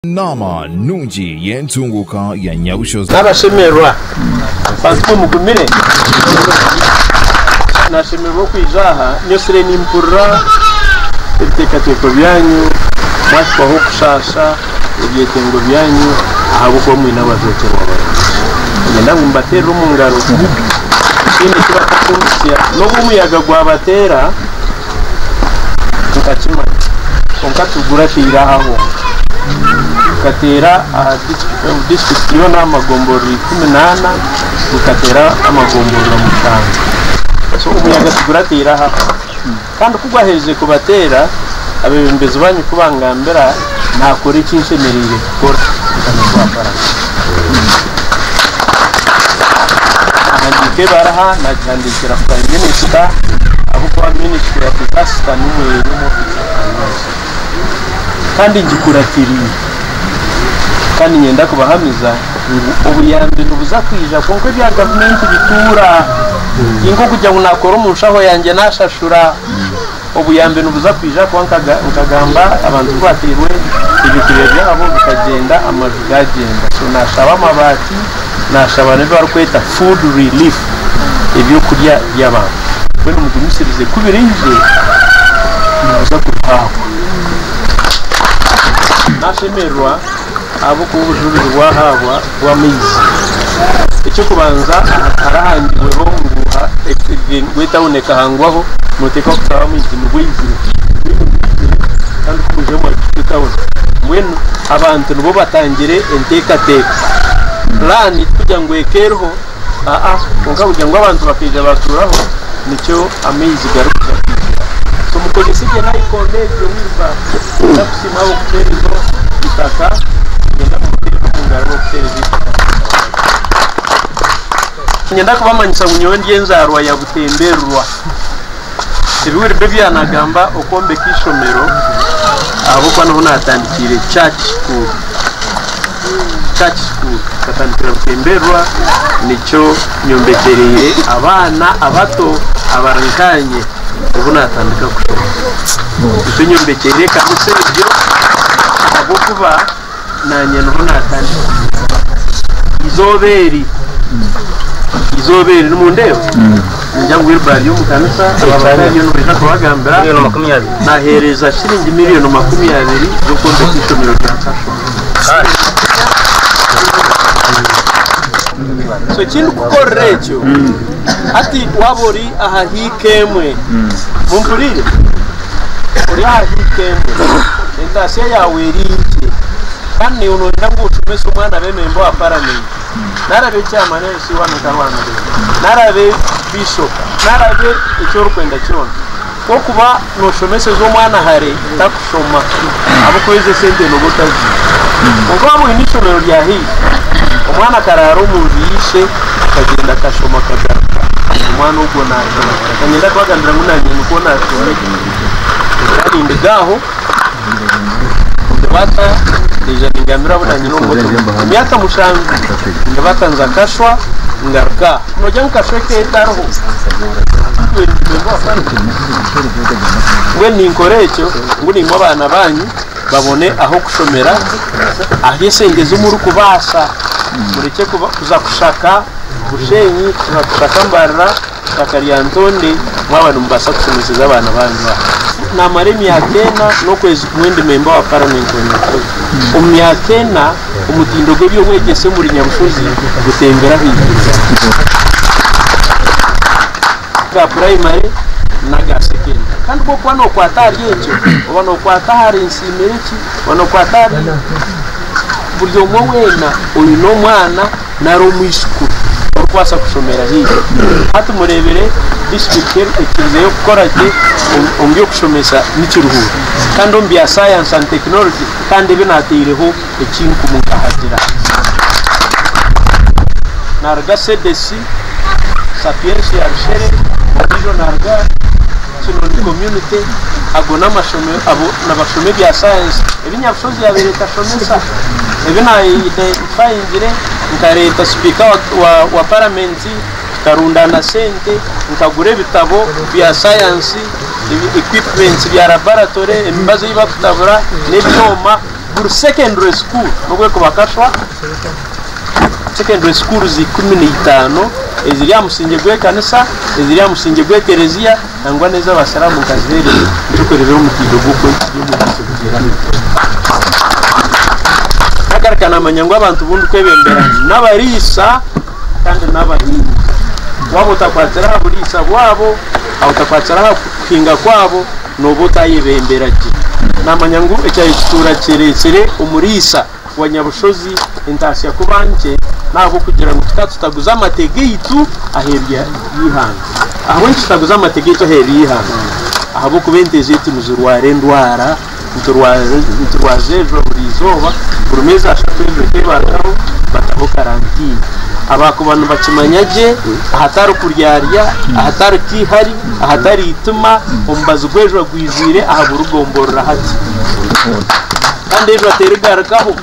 Naama nungi y'entunguuka ya Nyabushozi. Abashemererwa bantumwe mugumire nashemererwa okwija aha nyesire nimpurira ebitekateko byanyu mwahikwaho kushaasha ebyetengo byanyu ahabwokuba mwine abajwekyerwa barungi niinyenda ngu mubateerere omungaro ekindi eki batakuhitsya nobu omuyaga gwabateera tukakimanya kwonka tiguratera aho gukateera aha disiturikiti yoona aha magomborora ikumi n'ana gukateera amagomborora mushanju so omuyaga tiguratera aho kandi kugwaherize kubateera abebembezi banyu kubangambira naakora eki nshemereire kukora nkaba ndi owa Paragon. Nahandiika ebaraha naagihandiikira Prime Minister ahabw'okuba Ministry ya Disaster nimwo eri omu ofiisi ya Prime Minister. Kandi ngikuratiriire. Kandi niinyenda kubahamiza ngu obuyambi nibuza kwija kwonka ebya gavumenti bituura. Ti nk'okugira ngu naakora omu nshaho yangye naashashura. Obuyambi nibuza kwija kuba nkaga nkagamba abantu ku batairwe ebyokurya byabo bikagyenda amaju gagyenda so nashaba amabaati nashaba na ebibarikweta food relief ebyokurya byabantu mbwenu mugumisirize ku biraije nimuza kubihaahwa. Nashemererwa. Ahabw'okuba obujurizi bwahaabwa bw'amaizi, eky'okubanza hakaba hahangirweho ngu etawuni ekahangwaho nooteekwa kutaaho amaizi ngu oizire mbwenu ogihaikire kandi ku oizire waahika etawuni. Mbwenu abantu nibo batangire enteekateeka, puraani kugira ngu eke eriho. Aa, kwonka kugira ngu abantu bakaija baatuuraho, nikyo amaizi garikugira kwizira. So mukozese gye nayikondo egyo, wheel barrow, mwenda kusiima ahabw'okuteereza itaka, niinyenda mumuteereze omu ngaro ahabw'okuteereza itaka Niinyenda kubamanyisa ngu nyowe ndi enzaarwa ya Butemberwa. Tibiweribe byanagamba okwombeka ishomero ahabwokuba niho natandikiire church school church school nkatandikira Butemberwa nikyo nyombekyereire abaana abato abari nkanye obu natandika kushoma nikyo nyombekyereire ekanisa egyo ahabwokuba naanye niho naatandika kuguza eizooba eri eizooba eri nimundeeba ningira ngu Wilbur ari omu kanisa abandi bariyo nibaija kubagambira naaheereza shiringi million makumi abiri z'okwombeka eishomero rya Kashoro so ekindikukorera ekyo hati waaba ori aha hiika emwe. Mumpurire? Ori aha hiika emwe. Entaatsya yaawe eri nkye. Kandi naiwe nooyenda ngu oshomese omwana abe memba owa Paramenti, nari abe Chairman LC1 nka Rwamireeho, nari abe Bishop, nari abe eki orikwenda kyona. Ku orikuba nooshomeseza omwana hare takushoma ahabw'okuba ezo esente nooba otaziine. Kwonka waaba oine eishomero rya haihi, omwana akaraara omu nju y'eishe, akagyenda akashoma akagaruka, omwana ogwo naashoma. Reka ngyende ahabw'agambira ngu naanye nikwo naashomire. Ngira nindiga aho. Nibata naija ningamira abu naanyine omu motoka emyaka mushanju. Nibata nza Kashwa ngaruka aha. Noogira ngu Kashwa eka etariho? Mbwenu ninkora ekyo ngu nimwe abaana baanyu babone ah'okushomera ahu esente ezi murikubaasa. Murekye kuza kushaka Bushenyi, kuza kushaka Mbarara. Itaka rya Ntonde mwaba nimubaasa kushemeseza abaana baanyu aha. Naamara emyaka ena n'okwezi kumwe ndi memba wa Paramenti wa Nyarutooro. Omu myaka ena, omutindo gw'eby'obwegyese omuri Nyamushozi gutembire ahaiguru aga purayimare n'aga sekendare kandi bw'okuba nookwata ahari egyo, oba nookwata ahari nsiimire ki, oba nookwata ahari buri omwe weena oine omwana nari omwishikuru orikubaasa kushomera haihi. Hati mureebere disitulikiti eri ekirizeeyo kukora gye omu by'okushomesa ni Kiruhura kandi omu bya Science and Technology kandi ebi naataireho ekinkumu nkahagira. Naaruga CDC, Sapiensia ya Rushere, ondiijo naaruga Kinoni Community, ago n'amashomero, abo nibashoma ebya Science. Ebi Nyabushozi yaabaire tashomesa, ebi naayeyine mpangire, nkareeta sipiika wa paramenti, tukarundaana sente, nkagura ebitabo bya sayansi, equipments bya laboratory, emibazi ei barikutabura n'ebyoma, buri secondary school, n'obu erikuba kashwa, secondary schools ikumi na itaano eziri aha musingye gw'ekanisa, eziri aha musingye gw'ekereziya, Nangwa n'ezo Abasiramu nkazireebera ntukureebera omutindo gw'oku ekiri omu bwire obugyerami bukweho. Nagaruka namanya ngu abantu bu ndikwebembera n'abariisa kandi n'abahingi. Waaba otakwatire aha buriisa bwabo, waaba otakwatire aha kuhinga kwabo, nooba otayebembera gye. Namanya ngu ekyayekituura kyereetsire omuriisa. wa Nyabushozi entaasya kuba nkye n'ahabw'okugira ngu tuta tutaguza amate gaitu aheeru y'eihanga. Ahabw'enki tutaguza amate gaitu aheeru y'eihanga? Ahabw'okuba ente zaitu nizirwara endwara, niturwaza niturwaza ezo buri izooba, buri meezi ashatu ezo ente bataho bataho karantiini. Abaakuba nibakimanya gye ahatari kuryarya, ahatari keihari, ahatari eitima, omubazi gw'ejwa gwijwire aha buri gomborora hati. Kandi eijwa terigarukaho.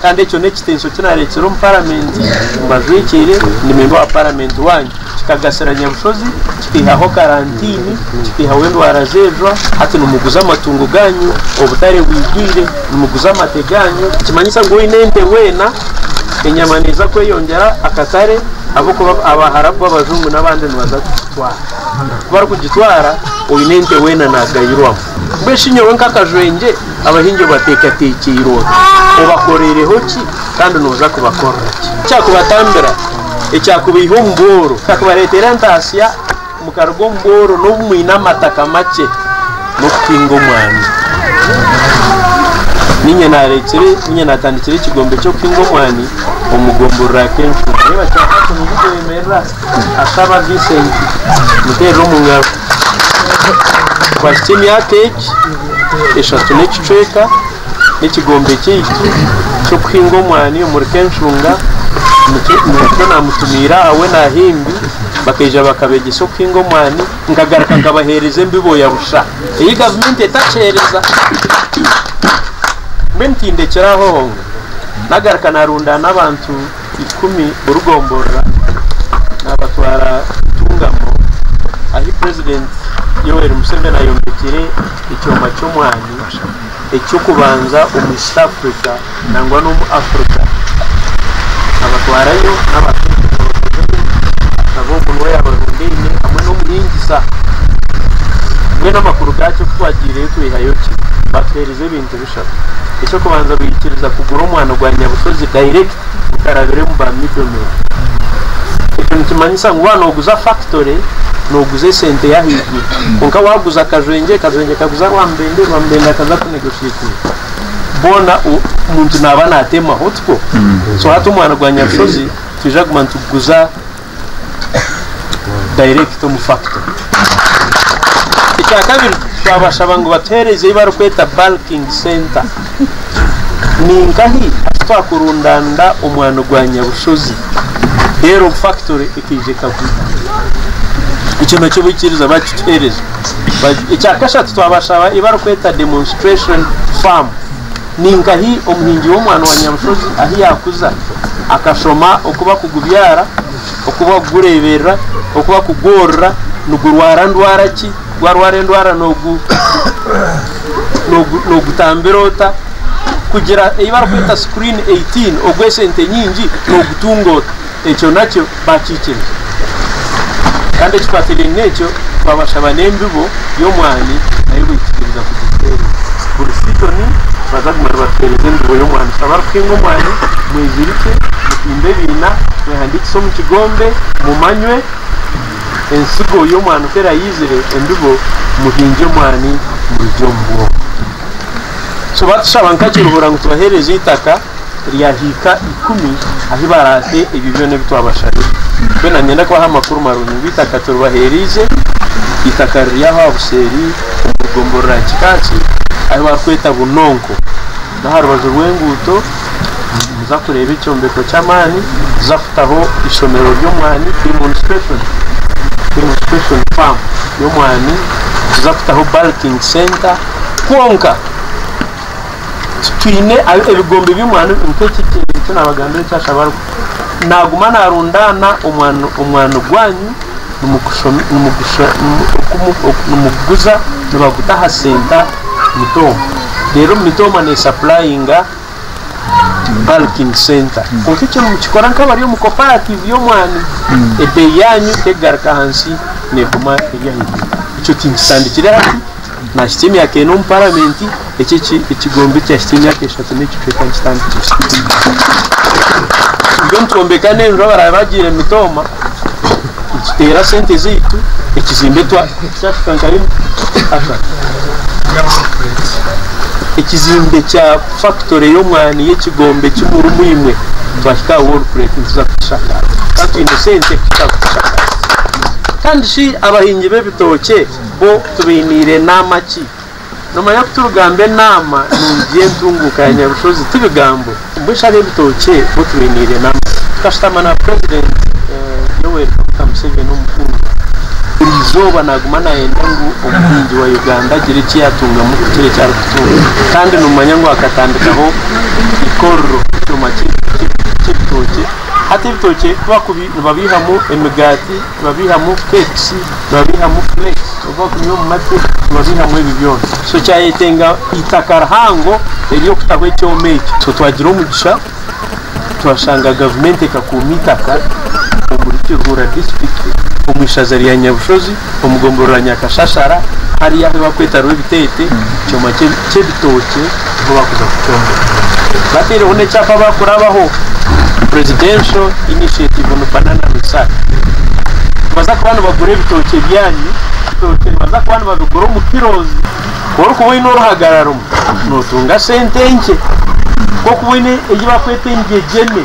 Kandi ekyo n'ekitensyo ki nareetsire omu paramenti, mbajwikiire, ndi memba wa paramenti wanyu. Kikagasira Nyabushozi, kikaihaho karantiini, kikaihaho endwara z'eijwa, hati nimuguza amatungo ganyu, obutare bwigwire, nimuguza amate ganyu. Nikimanyisa ngu oine ente weena, enyama neeza kweyongyera akatare ahabw'okuba Abaharabu, Abajungu n'abandi nibaza kugitwara. Ku barikugitwara, oine ente weena nagayirwamu. Mbwenu shi nyowe nk'akajwengye Abahingi obateekateekyeire ota? Obakoreireho ki, kandi nooza kubakorera ki? Ekyakubatambira, ekyakubaiha omu bworo, ekyakubareetera entaasya mukaruga omu bworo n'obu mwine amataka makye, n'okuhinga omwani. Niinye naareetsire, niinye naatandikire ekigombe ky'okuhinga omwani omu gombo rira Kenshura. Akaba Vincent muteerire omu ngaro. Twahitsya emyaka egi eshatu n'ekicweka n'ekigombe kyaitu ky'okuhinga omwani omuri Kenshunga. Nikyo naamutumiire aha we na Himbi bakaija bakabeegyesa okuhinga omwani. Nkagaruka nkabaheereza embibo ya busha ei gavumenti etakyereza. Mbwenu tindekire aho, nagaruka naarundaana abantu. ikumi burigomborora nabatwara Ntungamo ahi president Yoweri Museveni ayombekire ekyoma ky'omwani ekyokubanza omu East Africa nangwa n'omu Africa nabatwarayo nabo ogu nuwe yabarundaine hamwe n'omuhingisa mbwenu amakuru gakyo kutwagireyo twihayo ki batuhereza ebintu Eky'okushaba. Eky'okubanza baikiriza kugura omwano gwa Nyabushozi direct gutarabiremu ba middle men. Ekyo nikimanyisa ngu waaba nooguza factory nooguza esente y'ahaiguru kwonka waaguza Kajwengye, Kajwengye akaguza Rwamubende, Rwamubende akaza ku negotiatinga boona omuntu naaba naatemaho tikwo? So hati omwano gwa Nyabushozi twija kuguma nituguguza. direct omu factory. Ekyakabiri twabashaba ngu batuheereze ei barikweta bulking center. Ninkahi aku twakurundaanira omwani gwa nyabushozi reero factory ekaija ekagura. Ekyo nakyo baikiriza bakituheereza. Ekyakashatu twabashaba ei barikweta demonstration farm Ni nkahi omuhingi w'omwaani wa nyabushozi ahu yaakuza akashoma oku barikugubyara, oku barikugureeberera, oku barikugworora, nigurwara ndwara ki, gwarwara endwara noogutambira ota, kugira ei barikweta screen 18 ogw'esente nyingi noogutunga ota. Ekyo nakyo baakikiriza. Kandi ekikwatiraine n'ekyo, twabashaba n'embibo y'omwani nayo baikikiriza kugituheereza. Buri siizoni nibaza kuguma nibatuheereza embibo y'omwani. Tushabe abarikuhinga omwani mwezirikye, mutimbe ebiina, mwehandiikise omu kigombe, mumanywe entsigo y'omwani ku eraizire, embibo muhingye omwani murugye omu bwoma. So baatushaba nka Kiruhura ngu tubaheereze eitaka. ryahiika ikumi ahi baraahe ebyo byona ebi twabashabire. Mbwenu niinyenda kubaha amakuru marungi ngu eitaka turibaheereize, eitaka riri aho aha buseeri omu rugombo rwa Kikaaki ahi barikweta Bunonko. N'aha rubaju rw'enguuto nimuza kureeba ekyombeko ky'amaani, nituza kutaho eishomero ry'omwani, Kirimoni Special, Kirimoni Special Farm y'omwani, nituza kutaho Bulking Centre. Kwonka! Twine ebigombe by'omwani nk'eki eki naabagambira eki ashaba arikukora. Naaguma naarundaana omwani omwani gwanyu nimuguguza nibaguta aha senta mitooma. Reero mitooma neesapurayinga balking center. Kwonka eki nimukikora nk'abari omu koparatiivu y'omwani, ebeeyi yaanyu tekugaruka ahansi neeguma eri ahaiguru. Ekyo tinkitandikire hati. Naahikya emyaka ena omu Paramenti, eki ekigombe eki ahikya emyaka eshatu n'ekicweka nikitandikira. Itwe nitwombeka n'enju abaraabe bagiire mitooma, nituteera sente zaitu, ekizimbe kyahika nka rimwe aha ekizimbe kya fakitore y'omwani y'ekigombe kimwe omu imwe twahika aha worupureeti nituza kukishakaaza, twaba twine sente kuhika aha kukishakaaza. Kandi shi abahingi b'ebitookye? Bo tubainiire naama ki? Nomanya ku turigamba enaama nungi y'entunguuka ya Nyabushozi ti bigambo? Mbwe shi ab'ebitookye bo tubainiire naama ki? Tukashutama na President Yoweri Kaguta Museveni omukundwa, buri izooba naaguma naayenda ngu omuhingi wa Uganda agire eki yaatungamu kukira eki arikutunga kandi nomanya ngu akatandikaho eikorero, ekyoma ky'ebitookye, hati ebitookye ku bakubi nibabeihamu emigaati, nibabeihamu pekisi, nibabeihamu fureki obu bakunywa omu mate nibabeihamu ebi byona so kyayetenga eitaka rihango ery'okutaho ekyoma ekyo so twagira omugisha twashanga gavumenti ekakuuma eitaka omuri Kiruhura disiturikiti omu ishaza rya Nyabushozi omu gombolola Nyakashashara hariya ahu barikweta Rwebitete ekyoma ky'ebiti Ebitookye niho barikuza kukyombeka. Bateireho n'ekyapa barikurabaho, Presidential Initiative on Banana Research. Nibaza kuba nibagura ebitookye byanyu, ebitookye nibaza kuba nibabigura omu kilos. Ku orikuba oine oruhagara rumwe, nootunga sente nkye. Ku orikuba oine ei barikweta engyegyene.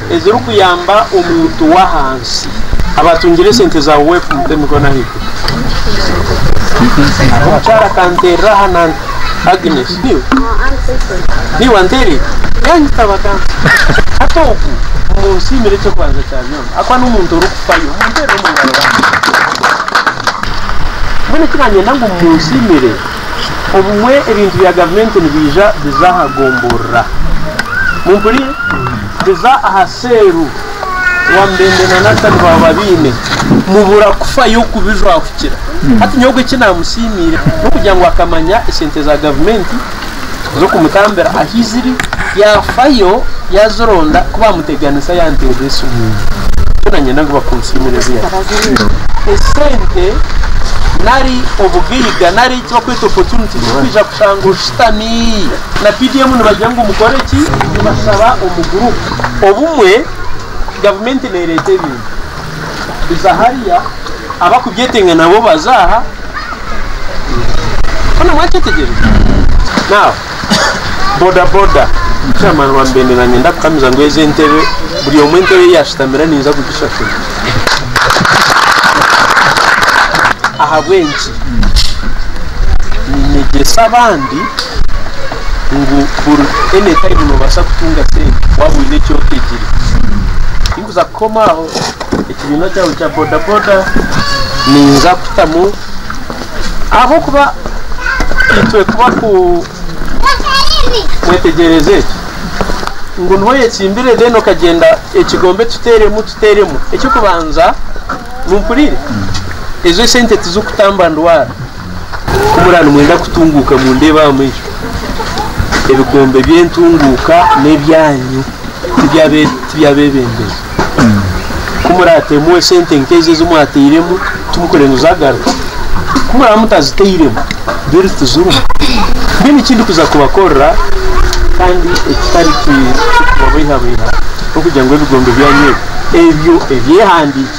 Ezirikuyamba omuntu w'ahansi. Abatungire sente za UWEP mute emikono ahaiguru. Hariho omukyara akanteerera aha na Agnes, niwe? Niwe anteereire? Yaanyitaba kandi. Hati ogu mumunsiimire eky'okubanza kya byona ahakuba n'omuntu orikufayo. Mumuteerere omu ngaro bambi. Mbwenu eki naanyenda ngu mumunsiimire, obumwe ebintu bya gavumenti nibiija biza aha gomborora. Mumpuriire? Biza aha seeru wamubembe na Nathan baaba babiine mubura kufayo kubijwahukira hati nyowe obwe ekinamusiimiire nokugira ngu akamanya esente za gavumenti zokumutambira ahiziri yafayo yazironda kubamuteganisa yanteera esimu nikyo nanyenda ngu bakunsiimire ziyahika esente nari obugaiga nari ekibakweta opportunity zokwiija kushanga oshutami. na PDM nibagira ngu mukore ki? Nibashaba omu gurupu. Obumwe gavumenti neereeta ebintu biza hariya, abarikubyetenga nabo baza aha. Hoona mwakyetegyereza? Now, bodaboda, chairman wa Mbende naanye ndakukamiza ngu ezi entebe, buri omwe entebe ei yaashutamira ninza kugishashura. Ahabw'enki? Niinyegyesa abandi. ngu buri anytime nobaasa kutunga sente waaba oine eki otegire. Tinkuza kukoma aho, ekibiina kyangye kya bodaboda ninza kutamu ahabw'okuba itwe kuba ku mwetegyereze ngu niho oyetsimbire then okagyenda ekigombe tuteeremu tuteeremu eky'okubanza, mumpurire, ezo esente tizikutamba ndwara. Ku muraba nimwenda kutunguuka mundeebaamu egyo, ebikombe by'entunguuka n'ebyanyu, tiby'abeebembezi. Ku muraateemu esente nk'ezo ezi mwateiremu, timukurenga zagaruka. Ku muraba mutaziteiremu, mbwenu tizirimu. Mbwenu eki ndikuza kubakorera kandi ekitari kikubabeihabeiha, n'okugira ngu ebikombe byanyu ebyo, ebyo ebyehandiikirwe,